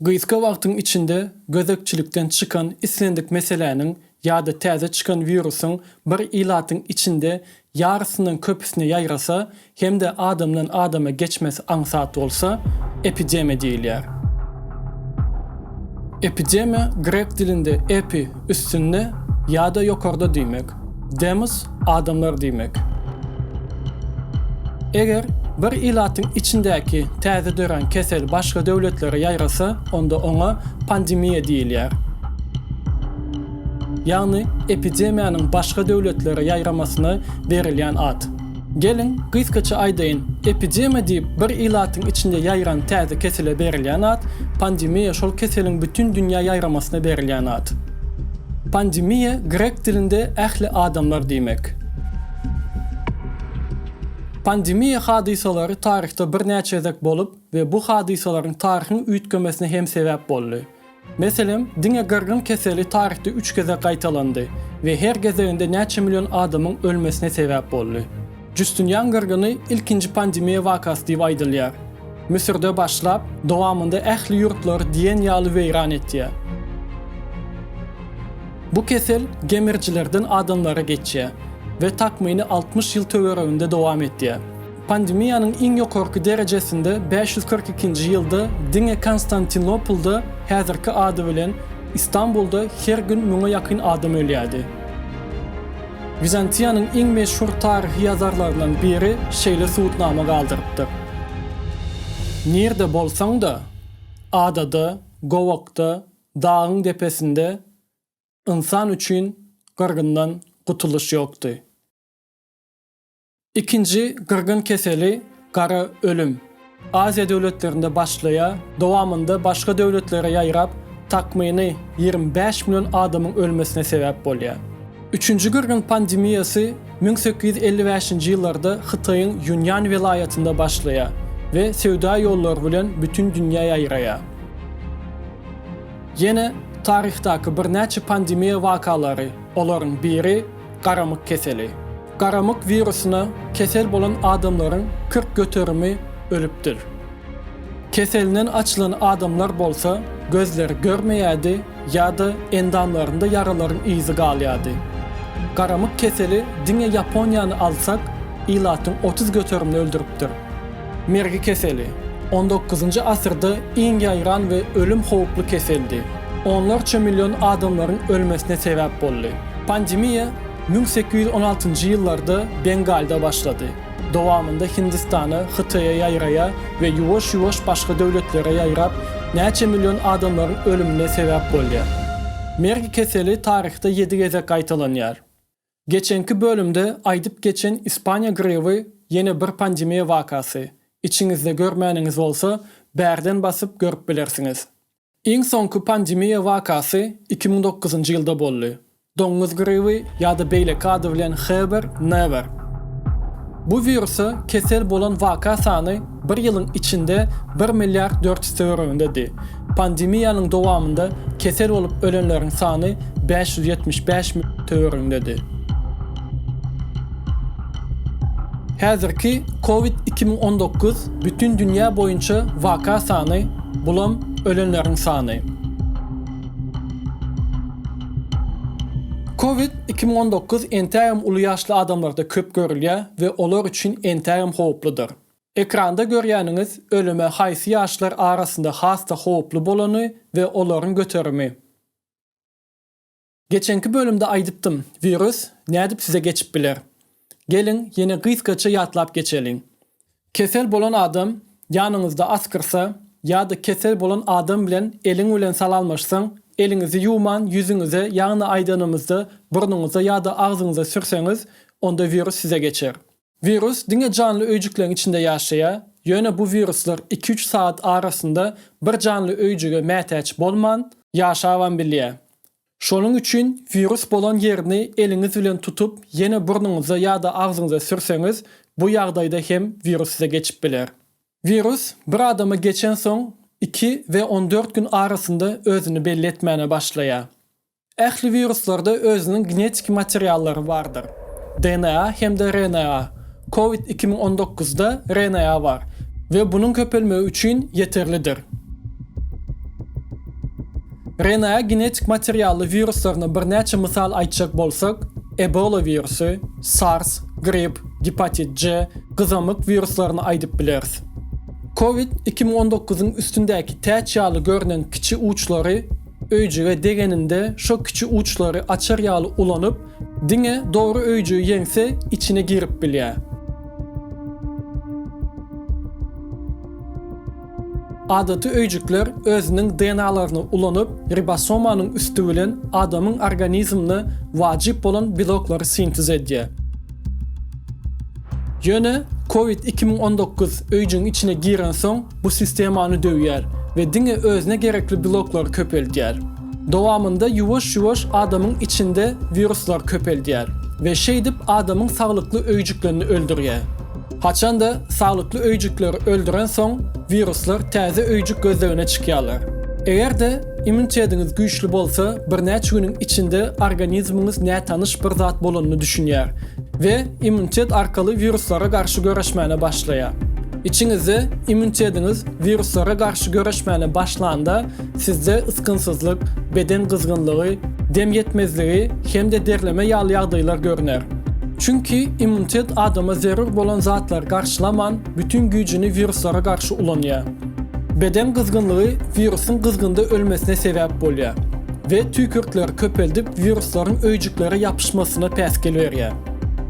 Gysga wagtyň içinde gözegçilikden çykan islendik meseläniň ýa-da täze çykan wirusyň bir ilatyň içinde ýarysyndan köpüsine ýaýrasa hem-de adamdan adama geçmesi aňsat bolsa, epidemiýa diýilýär. Epidemiýa grek dilinde epi, üstünde ýa-da ýokarda diýmek. Demos adamlar diýmek. Eger bir ilatyň içindäki täze dörän kesel başga döwletlere ýaýrasa, onda oňa pandemiýa diýilýär. Ýagny epidemiýanyň başga döwletlere ýaýramasyna berilýän at. Geliň, gysgaça aýdaýyn, epidemiýa diýip bir ilatyň içinde ýaýran täze kesele berilýän at, pandemiýa şol keseliň bütin dünýä ýaýramasyna berilýän at. Pandemiýa grek dilinde ähli adamlar diýmek. Pandemiýa hadysalary taryhda birnäçe gezek bolup we bu hadysalaryň taryhyň üýtgemesine hem sebäp boldy. Meselem, diňe gyrgyn keseli taryhda üç gezek gaýtalandy we her gezeginde näçe million adamyň ölmesine sebäp boldy. Justinian gyrgyny ilkinji pandemiýa wakasy diýip aýdylýar. Müsürde başlap, dowamynda ähli ýurtlary diýen ýaly weýran etýär. Bu kesel gemirijilerden adamlara geçýär we takmyny altmyş ýyl töwereginde dowam etýär. Pandemiýanyň iň ýokarky derejesinde bäş ýüz kyrk ikinji ýylda diňe Konstantinopolda, häzirki ady bilen, Istanbulda her gün müňe ýakyn adam ölýärdi. Wizantiýanyň iň meşhur taryhy ýazarlaryndan biri şeýle subutnama galdyrypdyr, Nirde bolsaň-da, adada, gowakda, dagyň depesinde ynsan üçin gyrgyndan gutulyş ýokdy. Ikinji gyrgyn keseli, gara ölüm, Aziýa döwletlerinde başlaýar, dowamynda başga döwletlere ýaýrap, takmyny ýigrimi bäş million adamyň ölmesine sebäp bolýar. Üçünji gyrgyn pandemiýasy müň sekiz ýüz elli bäşinji ýyllarda Hytaýyň Ýunýan welaýatynda başlaýar we söwda ýollary bilen bütin dünýä ýaýraýar. Ýene taryhdaky birnäçe pandemiýa wakalary, olaryň biri, Garamyk keseli. Garamyk wirusyna kesel bolan adamlaryň kyrk göterimi ölüpdir. Keselinden açylan adamlar bolsa gözleri görmeýärdi ýa-da endamlarynda ýaralaryň yzy galýardy. Garamyk keseli diňe Ýaponiýany alsak, ilatyň otuz göterimini öldüripdir. Mergi keseli, on dokuzynjy asyrda iň ýaýran we ölüm howply keseldi. Onlarça million adamlaryň ölmesine sebäp boldy. Pandemiýa müň sekiz ýüz on altynjy ýyllarda Bengalda başlady. Dowamynda Hindistana, Hytaýa ýaýraýa we ýuwaş-ýuwaş başga döwletlere ýaýrap, näçe million adamlaryň ölümine sebäp bolýar. Mergi keseli taryhda ýedi gezek gaýtalanýar. Geçenki bölümde aýdyp geçen Ispaniýa griby ýene bir pandemiýa wakasy, içiňizde görmäniňiz bolsa bärden basyp görüp bilersiňiz. Iň soňky pandemiýa wakasy iki müň dokuzynjy ýylda boldy, doňňuz griby ýa-da beýleki ady bilen Heber, Never. Bu wirusa kesel bolan waka sany bir ýylyň içinde bir milliard dört ýüz töweregindedi. Pandemiýanyň dowamynda kesel bolup ölenleriň sany bäş ýüz ýetmiş bäş müň töweregindedi. Häzirki Covid iki müň on dokuz bütin dünýä boýunça waka sany, bulam ölenleriň sany. Covid iki müň on dokuz entägem uly ýaşly adamlarda köp görülýär we olar üçin entägem howuplydyr. Ekranda görýäniňiz ölüme haýsy ýaşlar arasynda has-da howply bolany we olaryň göterimi. Geçenki bölümde aýdypdym, wirus nädip size geçip biler? Geliň, ýene gysgaça ýatlap geçeliň. Kesel bolan adam ýanyňyzda asgyrsa ýa-da kesel bolan adam bilen eliň bilen salamlaşsaň, eliňizi ýuwman ýüzüňize, ýagny aýdanymyzda burnuňyza ýa-da agzyňyza sürseňiz, onda wirus size geçer. Wirus diňe janly öýjükleriň içinde ýaşaýar, ýöne bu wiruslar iki-üç sagat arasynda bir janly öýjüge mätäç bolman, ýaşabam bilýär. Şonuň üçin wirus bolan ýerini eliňiz bilen tutup, ýene burnuňyza ýa-da agzyňyza sürseňiz, bu ýagdaýda hem wirus size geçip biler. Wirus bir adama geçensoň, iki we on dört gün arasynda özüni belli etmäne başlaýar. Ähli wiruslarda özüniň genetiki materiallary bardyr. DNA hem-de RNA. Covid iki müň on dokuzda RNA bar we bunuň köpelmegi üçin ýeterlidir. RNA genetik materially wiruslaryna birnäçe mysal aýtjak bolsak, Ebola wirusy, SARS, grip, gepatit C, gyzamyk wiruslaryny aýdyp bileris. Covid iki müň on dokuzyň üstündäki täç ýaly görnen kiçi uçlary Öýjüge degeninde şo kiçi uçlary açar ýaly ulanyp, diňe dogry öýjügi ýeňse içine girip bilýär. Adaty öýjükler özüniň DNA-laryny ulanyp, ribosomanyň üsti bilen adamyň organizmine wajyp bolan beloklary sintez edýär. Ýöne Covid iki müň on dokuz öýjügiň içine girensoň, Bu sistemany döwýär we diňe özüne gerekli beloklary köpeldýär. Dowamynda ýuwaş-ýuwaş adamyň içinde wiruslar köpeldýär we şeýdip adamyň saglykly öýjüklenini öldürýär. Haçanda saglykly öýjükleri öldürensoň wiruslar täze öýjük gözlegine çykýarlar. Eger-de immunitediňiz güýçli bolsa birnäçe günüň içinde organizmiňiz nätanyş bir zat bolanyny düşünýär we immunitet arkaly wiruslara garşy göreşmäne başlaýar. Içiňizde immunitetiňiz wiruslara garşy göreşmäne başlanda sizde ysgynsyzlyk, beden gyzgynlygy, dem ýetmezligi hem-de derleme ýaly ýagdaýlar görner. Çünki immunitet adama zerur bolan zatlary garşylaman, bütin güýjüni wiruslara garşy ulanýar. Beden gyzgynlygy wirusyň gyzgynda ölmesine sebäp bolýar we tüýkürtleri köpeldip wiruslaryň öýjüklere ýapyşmasyna päsgel berýär.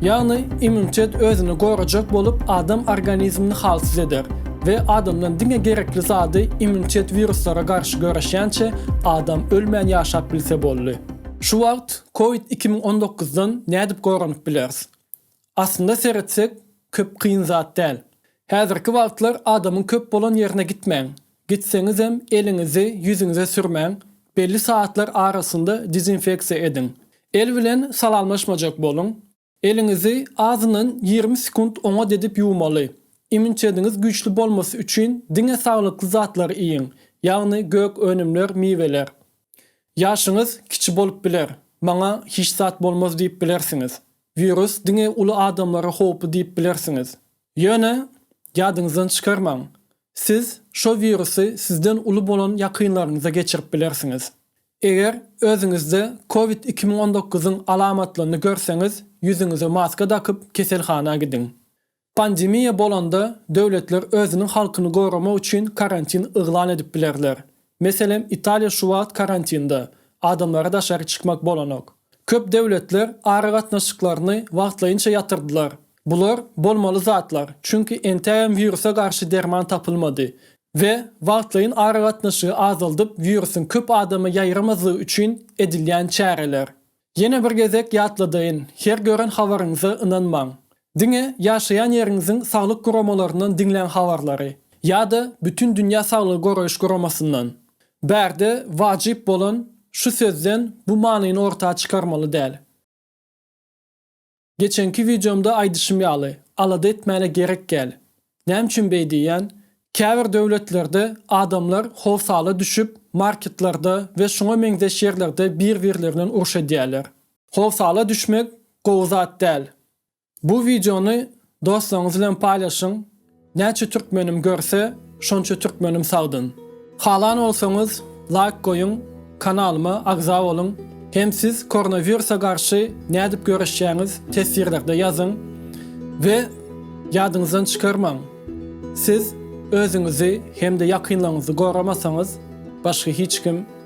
Ýagny immunitet özüni gorajak bolup adam organizmini halsyz eder we adamdan diňe gerekli zady immunitet wiruslara garşy göreşýänçe adam ölmän ýaşap bilse boldy. Şu wagt covid iki müň on dokuzdan nädip goranyp bileris? Aslynda seretsek, köp kyn zat däl. Häzirki wagtlar adamyň köp bolan ýerine gitmäň. Gitseňizem, eliňizi ýüzüňize sürmäň, belli sagatlar arasynda dezinfeksiýa ediň. El bilen salamlaşmajak boluň. Eliňizi azyndan ýigrimi sekunt oňat edip ýuwmaly. Imunitediňiz güýçli bolmasy üçin diňe saglykly zatlary iýiň, ýagny gök önümler, miweler. Ýaşyňyz kiçi bolup biler, maňa hiç zat bolmaz diýip bilersiňiz. Wirus diňe uly adamlara howply diýip bilersiňiz. Ýöne, ýadyňyzdan çykarmaň, siz şo wirusy sizden uly bolan ýakynlaryňyza geçirip bilersiňiz. Eger özüňizde covid iki müň on dokuz yň alamatlaryny görseňiz, ýüzüňize maska dakyp, keselhana gidiň. Pandemiýa bolanda, döwletler özüniň halkyny goramak üçin karantin yglan edip bilerler. Meselem, Italiýa şu wagt karantinde, adamlara daşary çykmak bolanok. Köp döwletler aragatnaşyklaryny wagtlaýynça ýatyrdylar. Bular bolmaly zatlar, çünki entägem wirusa garşy derman tapylmady we wagtlaýyn aragatnaşygy azaldyp, wirusyň köp adama ýaýramazlygy üçin edilýän çäreler. Ýene bir gezek ýatladaýyn, her gören habaryňyza ynanmaň. Diňe ýaşaýan ýeriňiziň saglyk guramalaryndan diňläň habarlary, ýa-da Bütindünýä saglygy goraýyş guramasyndan. Bärde wajyp bolan şu sözden bu manyny orta çykarmaly däl. Geçenki wideomda aýdyşym ýaly, alada etmäne gerek gel. Näme üçin beý diýýän? Käbir döwletlerde adamlar howsala düşüp, marketlerde we şuňa meňzeş ýerlerde bir-birlerinden uruş edýärler. Howsala düşmek gowy zat däl. Bu wideony Dostlaryňyz bilen paýlaşyň! Näçe türkmenim görse, şonça türkmenim sagdyn! Halan bolsaňyz, laýk goýuň, kanalyma agza boluň hem siz koronawirusa garşy nädip göreşýäňiz teswirlerde ýazyň we ýadyňyzdan çykarmaň, siz özüňizi hem-de ýakynlaryňyzy goramasaňyz, başga hiç kim